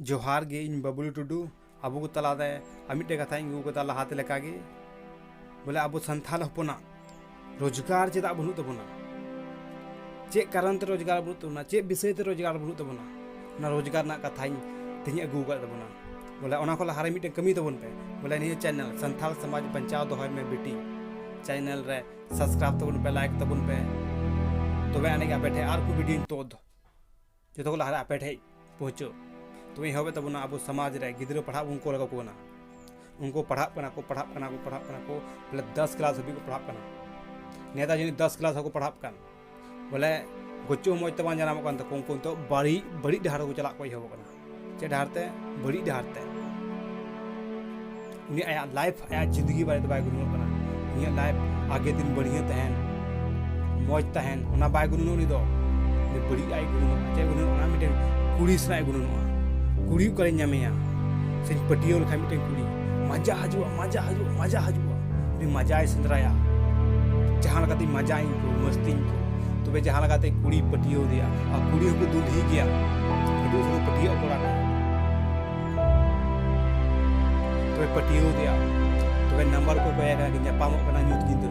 ᱡᱚᱦᱟᱨ ᱜᱮ ᱤᱧ ᱵᱟᱵᱩᱞ ᱴᱩᱰᱩ ᱟᱵᱚ ᱠᱚ ᱛᱟᱞᱟᱨᱮ ᱟᱨ ᱢᱤᱫᱴᱮᱡ ᱠᱟᱛᱷᱟᱧ ᱟᱹᱜᱩ ᱠᱟᱫᱟ ᱞᱟᱦᱟᱛᱮ ᱞᱮᱠᱟᱜᱮ ᱵᱚᱞᱮ ᱟᱵᱚ ᱥᱟᱱᱛᱟᱲ ᱦᱚᱯᱚᱱᱟᱜ ᱨᱳᱡᱽᱜᱟᱨ ᱪᱮᱫᱟᱜ ᱵᱟᱹᱱᱩᱜ ᱛᱟᱵᱚᱱᱟ ᱪᱮᱫ ᱠᱟᱨᱚᱱ ᱛᱮ ᱨᱳᱡᱽᱜᱟᱨ ᱵᱟᱹᱱᱩᱜ ᱛᱟᱵᱚᱱᱟ ᱪᱮᱫ ᱵᱤᱥᱚᱭ ᱛᱮ ᱨᱳᱡᱽᱜᱟᱨ ᱵᱟᱹᱱᱩᱜ ᱛᱟᱵᱚᱱᱟ ᱚᱱᱟ ᱨᱳᱡᱽᱜᱟᱨ ᱨᱮᱱᱟᱜ ᱠᱟᱛᱷᱟᱧ ᱛᱮᱦᱮᱧ ᱟᱹᱜᱩ ᱟᱠᱟᱫ ᱛᱟᱵᱚᱱᱟ ᱵᱚᱞᱮ ᱚᱱᱟ ᱠᱷᱚᱱ ᱞᱟᱦᱟᱨᱮ ᱢᱤᱫᱴᱮᱱ ᱠᱟᱹᱢᱤ ᱛᱟᱵᱚᱱ ᱯᱮ ᱵᱚᱞᱮ ᱱᱤᱭᱟᱹ ᱪᱮᱱᱮᱞ ᱥᱟᱱᱛᱟᱲ ᱥᱚᱢᱟᱡᱽ ᱵᱟᱧᱪᱟᱣ ᱫᱚᱦᱚᱭ ᱢᱮ ᱵᱤᱴᱤ ᱪᱮᱱᱮᱞ ᱨᱮ ᱥᱟᱵᱥᱠᱨᱟᱭᱤᱵ ᱛᱟᱵᱚᱱ ᱯᱮ ᱞᱟᱭᱤᱠ ᱛᱟᱵᱚᱱ ᱯᱮ ᱛᱚᱵᱮ ᱟᱹᱱᱤᱡ ᱟᱯᱮ ᱴᱷᱮᱱ ᱟᱨ ᱠᱚ ᱵᱷᱤᱰᱤᱭᱳᱧ ᱛᱳᱫ ᱡᱚᱛᱚ ᱠᱚ ᱞᱟᱦᱟᱨᱮ ᱟᱯᱮ ᱴᱷᱮᱡ ᱯᱚᱦᱪᱚᱜ ᱛᱚᱵᱮ ᱮᱦᱚᱵᱮᱫ ᱛᱟᱵᱚᱱᱟ ᱟᱵᱚ ᱥᱚᱢᱟᱡᱽ ᱨᱮ ᱜᱤᱫᱽᱨᱟᱹ ᱯᱟᱲᱦᱟᱜ ᱵᱚᱱ ᱠᱚᱞ ᱠᱟᱠᱚ ᱠᱟᱱᱟ ᱩᱱᱠᱩ ᱯᱟᱲᱦᱟᱜ ᱠᱟᱱᱟ ᱠᱚ ᱯᱟᱲᱦᱟᱜ ᱠᱟᱱᱟ ᱠᱚ ᱯᱟᱲᱦᱟᱜ ᱠᱟᱱᱟ ᱠᱚ ᱵᱚᱞᱮ ᱫᱚᱥ ᱠᱞᱟᱥ ᱦᱟᱹᱵᱤᱡ ᱠᱚ ᱯᱟᱲᱦᱟᱜ ᱠᱟᱱᱟ ᱱᱮᱛᱟᱨ ᱡᱟᱹᱱᱤᱡ ᱫᱚᱥ ᱠᱞᱟᱥ ᱦᱚᱸᱠᱚ ᱯᱟᱲᱦᱟᱜ ᱠᱟᱱ ᱵᱚᱞᱮ ᱜᱚᱪᱚ ᱢᱚᱡᱽ ᱛᱮ ᱵᱟᱝ ᱡᱟᱱᱟᱢᱚᱜ ᱠᱟᱱ ᱛᱟᱠᱚ ᱩᱱᱠᱩ ᱱᱤᱛᱚᱜ ᱵᱟᱹᱲᱤᱡ ᱵᱟᱹᱲᱤᱡ ᱰᱟᱦᱟᱨ ᱨᱮᱠᱚ ᱪᱟᱞᱟᱜ ᱠᱚ ᱮᱦᱚᱵᱚᱜ ᱠᱟᱱᱟ ᱪᱮᱫ ᱰᱟᱦᱟᱨ ᱛᱮ ᱵᱟᱹᱲᱤᱡ ᱰᱟᱦᱟᱨ ᱛᱮ ᱩᱱᱤ ᱟᱭᱟᱜ ᱞᱟᱭᱤᱯᱷ ᱟᱭᱟᱜ ᱡᱤᱱᱫᱜᱤ ᱵᱟᱨᱮᱛᱮ ᱵᱟᱭ ᱜᱩᱱᱟᱹᱱᱚᱜ ᱠᱟᱱᱟ ᱩᱱᱤᱭᱟᱜ ᱞᱟᱭᱤᱯᱷ ᱟᱜᱮ ᱫᱤᱱ ᱵᱟᱹᱲᱤᱡ ᱛᱟᱦᱮᱱ ᱢᱚᱡᱽ ᱛᱟᱦᱮᱱ ᱚᱱᱟ ᱵᱟᱭ ᱜᱩᱱᱟᱹᱱᱚᱜ ᱩᱱᱤ ᱫᱚ ᱵᱟᱹᱲᱤᱡ ᱟᱭ ᱜᱩᱱᱟᱹᱱᱚᱜ ᱪᱮᱫ ᱜᱩᱱᱟᱹᱱᱚᱜ ᱚᱱᱟ ᱢᱤᱫᱴᱮᱱ ᱠᱩᱲᱤ ᱥᱟᱞᱟᱜ ᱜᱩᱱᱟᱹᱱᱚᱜᱼᱟ ᱠᱩᱲᱤ ᱚᱠᱟᱨᱮᱧ ᱧᱟᱢᱮᱭᱟ ᱥᱮᱧ ᱯᱟᱹᱴᱭᱟᱹᱣ ᱞᱮᱠᱷᱟᱱ ᱢᱤᱫᱴᱮᱱ ᱠᱩᱲᱤ ᱢᱟᱡᱟ ᱦᱤᱡᱩᱜᱼᱟ ᱢᱟᱡᱟ ᱦᱤᱡᱩᱜ ᱢᱟᱡᱟ ᱦᱤᱡᱩᱜᱼᱟ ᱩᱱᱤ ᱢᱟᱡᱟᱭ ᱥᱮᱸᱫᱽᱨᱟᱭᱟ ᱡᱟᱦᱟᱸ ᱞᱮᱠᱟᱛᱮ ᱢᱟᱡᱟᱧ ᱠᱚ ᱢᱟᱹᱥᱛᱤᱧ ᱠᱚ ᱛᱚᱵᱮ ᱡᱟᱦᱟᱸ ᱞᱮᱠᱟᱛᱮ ᱠᱩᱲᱤ ᱯᱟᱹᱴᱤᱭᱟᱹᱣ ᱫᱮᱭᱟ ᱟᱨ ᱠᱩᱲᱤ ᱦᱚᱸᱠᱚ ᱫᱩᱞᱦᱤ ᱜᱮᱭᱟ ᱟᱹᱰᱤ ᱩᱥᱟᱹᱨᱟ ᱯᱟᱹᱴᱤᱭᱟᱹᱜ ᱠᱚᱲᱟ ᱠᱚ ᱛᱚᱵᱮ ᱯᱟᱹᱴᱤᱭᱟᱹᱣ ᱫᱮᱭᱟ ᱛᱚᱵᱮ ᱱᱟᱢᱵᱟᱨ ᱠᱚ ᱠᱚᱭᱟ ᱠᱟᱱᱟ ᱧᱟᱯᱟᱢᱚᱜ ᱠᱟᱱᱟ ᱧᱩᱛ ᱧᱤᱫᱟᱹ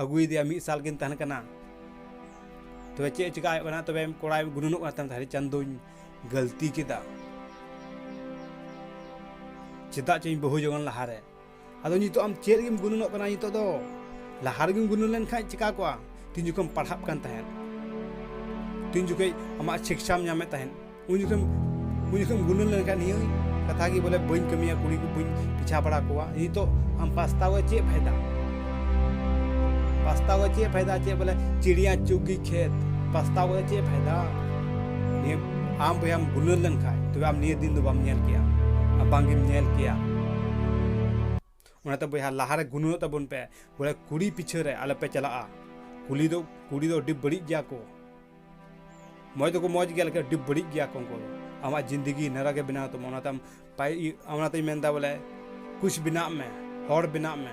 ᱟᱹᱜᱩᱭᱮᱫᱮᱭᱟ ᱢᱤᱫ ᱥᱟᱞ ᱠᱤᱱ ᱛᱟᱦᱮᱱ ᱠᱟᱱᱟ ᱛᱚᱵᱮ ᱪᱮᱫ ᱪᱤᱠᱟ ᱦᱩᱭᱩᱜ ᱠᱟᱱᱟ ᱛᱚᱵᱮ ᱠᱚᱲᱟᱭ ᱜᱩᱱᱩᱱᱚᱜ ᱠᱟᱱ ᱛᱟᱦᱮᱸᱫ ᱪᱟᱸᱫᱚᱧ ᱜᱟᱹᱞᱛᱤ ᱠᱮᱫᱟ ᱪᱮᱫᱟᱜ ᱪᱚᱧ ᱵᱟᱹᱦᱩ ᱡᱚᱜᱚᱱ ᱞᱟᱦᱟᱨᱮ ᱟᱫᱚ ᱱᱤᱛᱚᱜ ᱟᱢ ᱪᱮᱫ ᱜᱮᱢ ᱜᱩᱱᱩᱱᱚᱜ ᱠᱟᱱᱟ ᱱᱤᱛᱚᱜ ᱫᱚ ᱞᱟᱦᱟ ᱨᱮᱜᱮᱢ ᱜᱩᱱᱩᱱ ᱞᱮᱱᱠᱷᱟᱱ ᱪᱤᱠᱟ ᱠᱚᱜᱼᱟ ᱛᱤᱱ ᱡᱚᱠᱷᱚᱱ ᱯᱟᱲᱦᱟᱜ ᱠᱟᱱ ᱛᱟᱦᱮᱸᱫ ᱛᱤᱱ ᱡᱚᱠᱷᱚᱱ ᱟᱢᱟᱜ ᱥᱤᱠᱥᱟᱢ ᱧᱟᱢᱮᱫ ᱛᱟᱦᱮᱸᱫ ᱩᱱ ᱡᱚᱠᱷᱚᱱ ᱩᱱ ᱡᱚᱠᱷᱚᱱ ᱜᱩᱱᱟᱹᱱ ᱞᱮᱱᱠᱷᱟᱱ ᱱᱤᱭᱟᱹ ᱠᱟᱛᱷᱟ ᱜᱮ ᱵᱚᱞᱮ ᱵᱟᱹᱧ ᱠᱟᱹᱢᱤᱭᱟ ᱠᱩᱲᱤ ᱠᱚ ᱵᱟᱹᱧ ᱯᱤᱪᱷᱟ ᱵᱟᱲᱟ ᱠᱚᱣᱟ ᱱᱤᱛᱚᱜ ᱟᱢ ᱯᱟᱥᱛᱟᱣᱟ ᱪᱮᱫ ᱯᱷᱟᱭᱫᱟ ᱯᱟᱥᱛᱟᱣᱟ ᱪᱮᱫ ᱯᱷᱟᱭᱫᱟ ᱪᱮᱫ ᱵᱚᱞᱮ ᱪᱤᱲᱤᱭᱟ ᱪᱩᱜᱤ ᱠᱷᱮᱛ ᱯᱟᱥᱛᱟᱣᱟ ᱪᱮᱫ ᱯᱷᱟᱭᱫᱟ ᱱᱤᱭᱟᱹ ᱟᱢ ᱵᱚᱭᱟᱢ ᱜᱩᱱᱟᱹᱱ ᱞᱮᱱᱠᱷᱟᱱ ᱛᱚᱵᱮ ᱟᱢ ᱱᱤᱭᱟᱹ ᱫᱤᱱ ᱫᱚ ᱵᱟᱢ ᱧᱮᱞ ᱠᱮᱭᱟ ᱵᱟᱝᱜᱮᱢ ᱧᱮᱞ ᱠᱮᱭᱟ ᱚᱱᱟᱛᱮ ᱵᱚᱭᱦᱟ ᱞᱟᱦᱟᱨᱮ ᱜᱩᱱᱟᱹᱱᱚᱜ ᱛᱟᱵᱚᱱ ᱯᱮ ᱵᱚᱞᱮ ᱠᱩᱲᱤ ᱯᱤᱪᱷᱟᱹ ᱨᱮ ᱟᱞᱚᱯᱮ ᱪᱟᱞᱟᱜᱼᱟ ᱠᱩᱞᱤ ᱫᱚ ᱠᱩᱲᱤ ᱫᱚ ᱟᱹᱰᱤ ᱵᱟᱹᱲᱤᱡ ᱜᱮᱭᱟ ᱠᱚ ᱢᱚᱡᱽ ᱫᱚᱠᱚ ᱢᱚᱡᱽ ᱜᱮᱭᱟ ᱞᱮᱠᱤᱱ ᱟᱹᱰᱤ ᱵᱟᱹᱲᱤᱡ ᱜᱮᱭᱟ ᱠᱚ ᱩᱱᱠᱩ ᱫᱚ ᱟᱢᱟᱜ ᱡᱤᱱᱫᱮᱜᱤ ᱱᱟᱨᱟ ᱜᱮ ᱵᱮᱱᱟᱣ ᱛᱟᱢᱟ ᱚᱱᱟᱛᱮ ᱟᱢ ᱯᱟᱭ ᱚᱱᱟᱛᱮᱧ ᱢᱮᱱᱫᱟ ᱵᱚᱞᱮ ᱠᱩᱪ ᱵᱮᱱᱟᱜ ᱢᱮ ᱦᱚᱲ ᱵᱮᱱᱟᱜ ᱢᱮ